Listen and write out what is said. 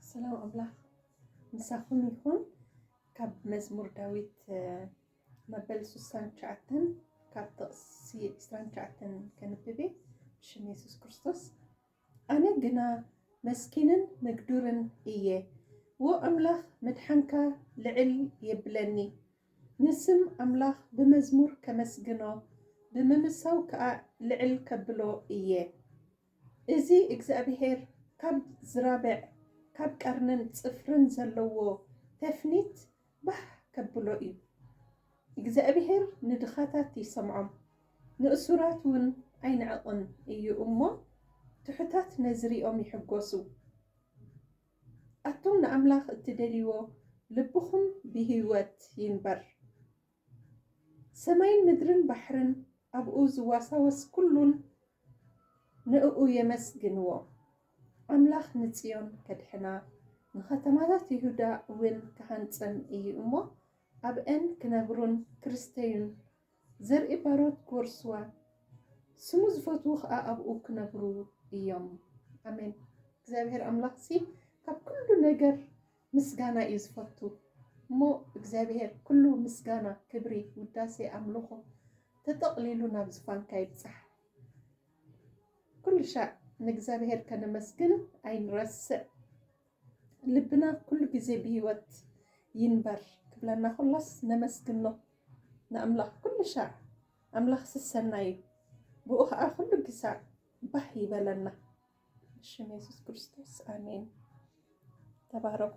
ሰላም ኣምላኽ ምሳኹም ይኹን። ካብ መዝሙር ዳዊት መበል ስሳን ትሽዓተን ካብ ጥቕሲ ዕስራን ትሽዓተን ከንብብ እየ ብሽም የሱስ ክርስቶስ። ኣነ ግና መስኪንን ምግዱርን እየ፣ ዎ ኣምላኽ ምድሓንካ ልዕል የብለኒ። ንስም ኣምላኽ ብመዝሙር ከመስግኖ ብምምሳው ከዓ ልዕል ከብሎ እየ። እዚ እግዚኣብሄር ካብ ዝራብዕ ካብ ቀርንን ጽፍርን ዘለዎ ተፍኒት ባህ ከብሎ እዩ። እግዚኣብሄር ንድኻታት ይሰምዖም ንእሱራት ውን ኣይንዕቕን እዩ እሞ ትሑታት ነዚ ሪኦም ይሕጎሱ። ኣቱም ንኣምላኽ እትደልይዎ ልብኹም ብሂወት ይንበር። ሰማይን ምድርን ባሕርን ኣብኡ ዝዋሳወስ ኩሉን ንእኡ የመስግንዎ። ኣምላኽ ንጽዮን ከድሕና፣ ንኸተማታት ይሁዳ እውን ክሃንጸን እዩ እሞ፣ ኣብኣን ክነብሩን ክርስተዩን፣ ዘርኢ ባሮት ክወርስዋ፣ ስሙ ዝፈትዉ ኸኣ ኣብኡ ክነብሩ እዮም። ኣሜን። እግዚኣብሄር ኣምላኽሲ ካብ ኩሉ ነገር ምስጋና እዩ ዝፈቱ እሞ እግዚኣብሄር ኩሉ ምስጋና ክብሪ ውዳሴ ኣምልኾ ተጠቕሊሉ ናብ ዝፋንካ ይብጻሕ ኩሉሻዕ ንእግዚኣብሄር ከነመስግን ኣይንረስዕ ልብና ኩሉ ግዜ ብህይወት ይንበር ክብለና ኩሎስ ነመስግኖ ንኣምላኽ ኩሉሻዕ ኣምላኽ ስሰናይ እዩ ብኡ ኸዓ ኩሉ ግሳዕ ባህ ይበለና። ሽም የሱስ ክርስቶስ ኣሜን። ተባረኹ።